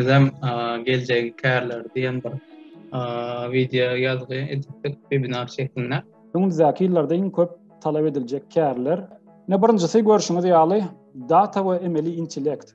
Bizem geljegi kärler diýen bir wideo ýazgy edipdik webinar şeklinde. Öňümizdäki ýyllarda iň köp talap ediljek kärler. Ine birinjisi görşüňiz ýaly data we emeli intellekt.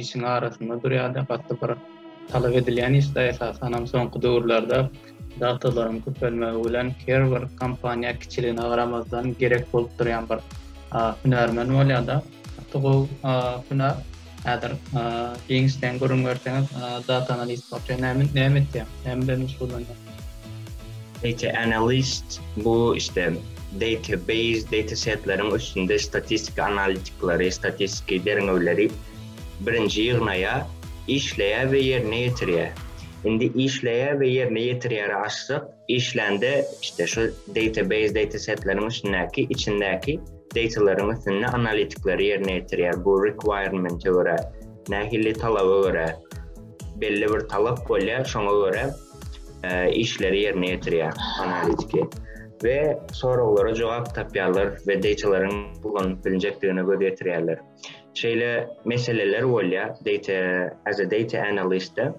işiň arasynda durýardy. Gatly bir talap edilýän işde esasan hem soňky döwürlerde datalaryň köpelmegi bilen Kerber kompaniýa kiçiligine garamazdan gerek bolup durýan bir hünärmen bolýar-da. Gatly gowy hünär. Häzir giňişleýin gürrüň berseňiz, data analist bolýar. Näme näme etýär? Näme bilen meşgullanýar? Data analyst, bu işte database, datasetleriň üstünde statistiki analitikleri, statistiki derňewleri birinji ýygnaýar, işleýär we ýerine ýetirýär. Indi işleýär we ýerine ýetirýäri açsak, işlände işte şu database, datasetleriň üstündäki, içindäki datalaryň üstünde analitikleri ýerine ýetirýär. Bu requirement-e görä, nähili talaba görä, belli bir talap bolýar, şoňa görä. işleri ýerine ýetirýär, analitiki we soraglara jogap tapýarlar we deýtalaryň ulanylyp bilinjekdigine göz ýetirýärler. Şeýle meseleler bolýar, deýta as a data analyst-de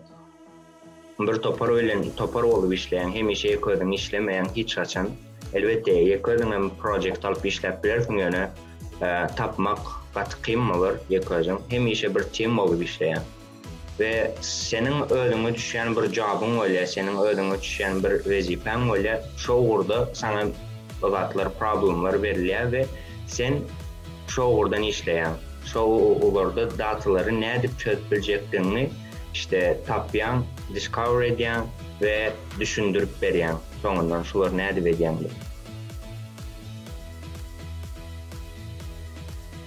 bir topar bilen topar bolup işleýän, hemişe ýeke özüň işlemeýäň hiç haçan. Elbetde, ýeke özüň hem projekt alyp işläp bilersiň, ýöne tapmak gaty kyn bolar ýeke özüň. Hemişe bir tim bolup işleýäň. we seniň özüňe düşýän bir jobyň bolýar, seniň özüňe düşýän bir wezipäň bolýar, şo ugurda saňa bu zatlar, problemler berilýär we sen şo ugurdan işleýäň, şo ugurda datalary nädip çözüp biljekdigiňi işte tapýaň, discover edýäň we düşündirip berýäň soňundan şulary nädip edýäň diýip.